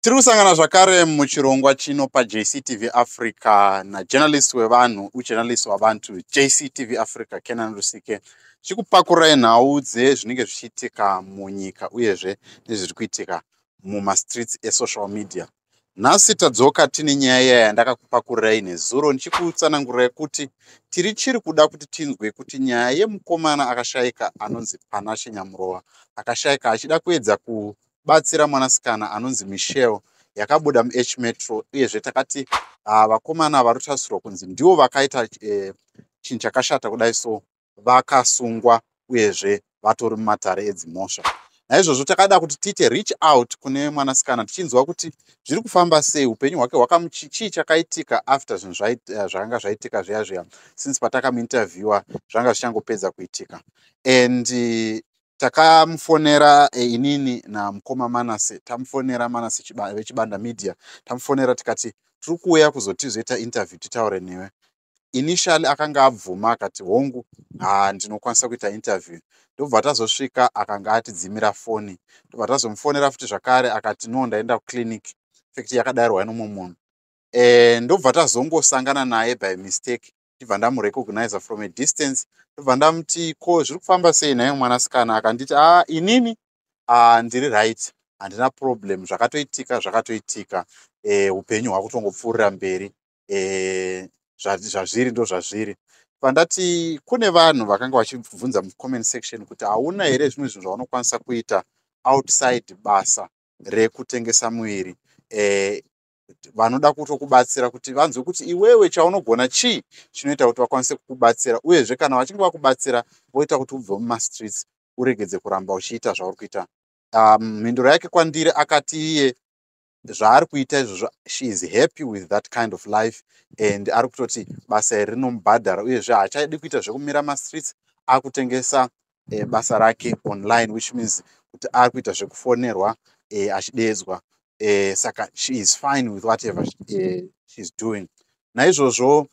Tiri kusangana zvakare muchirongwa chino paJCTV Africa najournalist wevanhu ujournalist wabantu JCTV Africa Kenan Rusike chikupakurai nhau dzezvinenge zvichiitika munyika uyezve nezviri kuitika mumastreets esocial media. Nhasi tadzoka tine nyaya iya yandakakupakurai nezuro ndichikutsanangurai kuti tiri chiri kuda kuti tinzwe kuti nyaya yemukomana akashaika anonzi Panashe Nyamurova akashaika achida kuedza ku kubatsira mwanasikana anonzi michelle yakabuda muh metro uyezve takati ah, vakomana vari kutarisirwa kunzi ndivo vakaita eh, chinhu chakashata kudai so vakasungwa uyezve vatori mumatare edzimhosva naizvozvo takada kuti tiite reach out kune mwanasikana tichinzwa kuti zviri kufamba sei upenyu hwake hwakamuchichii chakaitika after zvinhu eh, zvakanga zvaitika zviya zviya since patakamuinterviewa zvanga zvichangopedza kuitika and takamufonera eh, inini namukoma manase tamufonera manase chiba, vechibanda media tamufonera tikati tiri kuuya kuzotizoita interview titaure newe initially akanga abvuma akati hongu ha ndinokwanisa kuita interview ndobva tazosvika akanga atidzimira foni ndobva tazomufonera futi zvakare akati no ndaenda kuclinic fekti yakadairwa inomwe munhu e, ndobva tazongosangana naye by mistake ndibva ndamurecognizer from a distance ndobva ndamuti ko zviri kufamba sei nhayo mwanasikana akanditi a ah, inini ah, ndiri right handina problem zvakatoitika zvakatoitika eh, upenyu e, hwakutongopfuurira mberi e, zvazviri ndo zvazviri pandati kune vanhu vakanga vachibvunza mucomment section kuti hauna here zvimwe zvinhu zvaunokwanisa kuita outside basa rekutengesa muviri e, vanoda kutokubatsira kuti vanzwe kuti iwewe chaunogona chii chinoita kuti vakwanise kukubatsira uyezve kana vachinge vakubatsira voita kuti ubve mumastreets uregedze kuramba uchiita zvauri kuita um, mhinduro yake kwandiri akati iye zvaari kuita izvozvo she is happy with that kind of life and ari kutoti basa iri rinomubhadhara uyezve haachaidi kuita zvekumira mastreets akutengesa e, basa rake online which means kuti ari kuita zvekufonerwa e, achideedzwa e, saka she is fine with whatever e, she is doing naizvozvo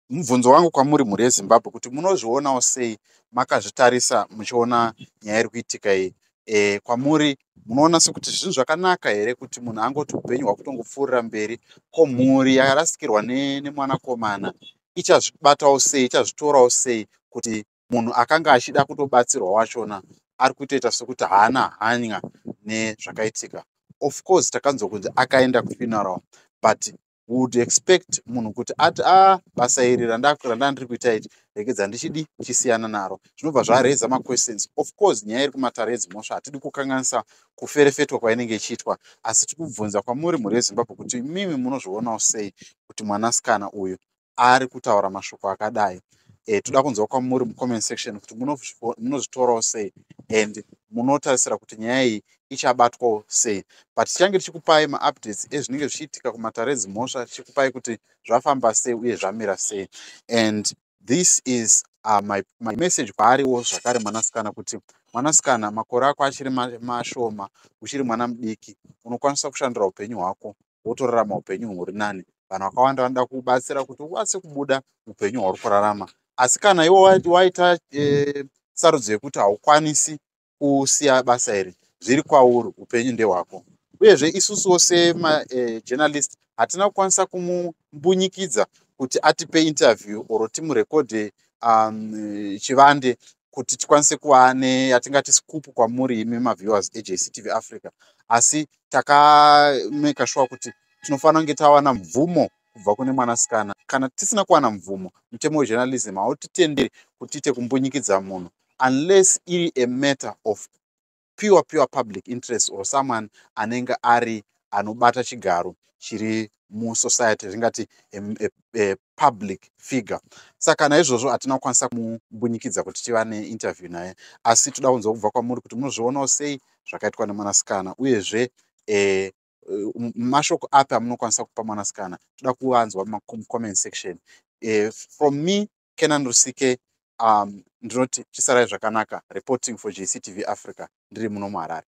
mubvunzo wangu kwamuri mhuri yezimbabwe kuti munozvionawo sei makazvitarisa muchiona nyaya iri kuitika iyi e, kwamuri munoona sekuti zvinhu zvakanaka here kuti munhu angoti upenyu hwakutongopfuurira mberi ko mhuri yakarasikirwa nemwanakomana ne ichazvibatawo sei ichazvitorawo sei kuti munhu akanga achida kutobatsirwa wachona ari kutoita sekuti haana hanya nezvakaitika of course takanzwa kunzi akaenda kufuneral but would expect munhu kuti ati a ah, basa iri randandiri kuita iti rekedza ndichidi chisiyana naro zvinobva zvareza maquestions of course nyaya iri kumatare edzimhosva hatidi kukanganisa kuferefetwa kwainenge ichiitwa asi tiri kubvunza kwamuri mhuri yezimbabwe kuti mimi munozvionawo sei kuti mwanasikana uyu ari kutaura mashoko akadai eh, toda kunzwa kwamuri mucomment section kuti munozvitorawo sei and munotarisira kuti nyaya iyi ichabatwawo sei but tichange tichikupai maupdates ezvinenge zvichiitika kumatare edzimhosva tichikupai kuti zvafamba sei uye zvamira sei and this is uh, my, my message kwaariwo zvakare mwanasikana kuti mwanasikana makore ako achiri mashoma uchiri mwana mudiki unokwanisa kushandira upenyu hwako wotorarama upenyu huri nani vanhu vakawanda vanoda kubatsira kuti ukwanise kubuda upenyu hwauri kurarama asi kana iwo waita e, sarudzo yekuti haukwanisi kusiya basa iri zviri kwauri upenyu ndehwako uyezve isusuwo semajournalist eh, e, hatina kukwanisa kumumbunyikidza kuti atipe interview or timurekodhe um, chivande kuti tikwanise kuva neyatingati scoop kwamuri imi maviewers ejctv africa asi takameka shuwa kuti tinofanira kunge tawana mvumo kubva kune mwanasikana kana tisina kuwana mvumo mutemo wejournalism hautitenderi kuti tiite kumbunyikidza munhu unless iri a matter of pure pure public interest or someone anenge ari anobata chigaro chiri musociety ringati a, a, a public figure saka naizvozvo hatina kukwanisa kumumbunyikidza kuti tiva neinterview naye asi toda kunzwa kubva kwamuri kuti munozvionawo sei zvakaitwa nemwanasikana uyezve eh, mashoko api amunokwanisa kupa mwanasikana toda kuvanzwa mucomment section eh, from me kenan rusike um, ndinoti chisarai zvakanaka reporting for jctv africa ndiri muno muharare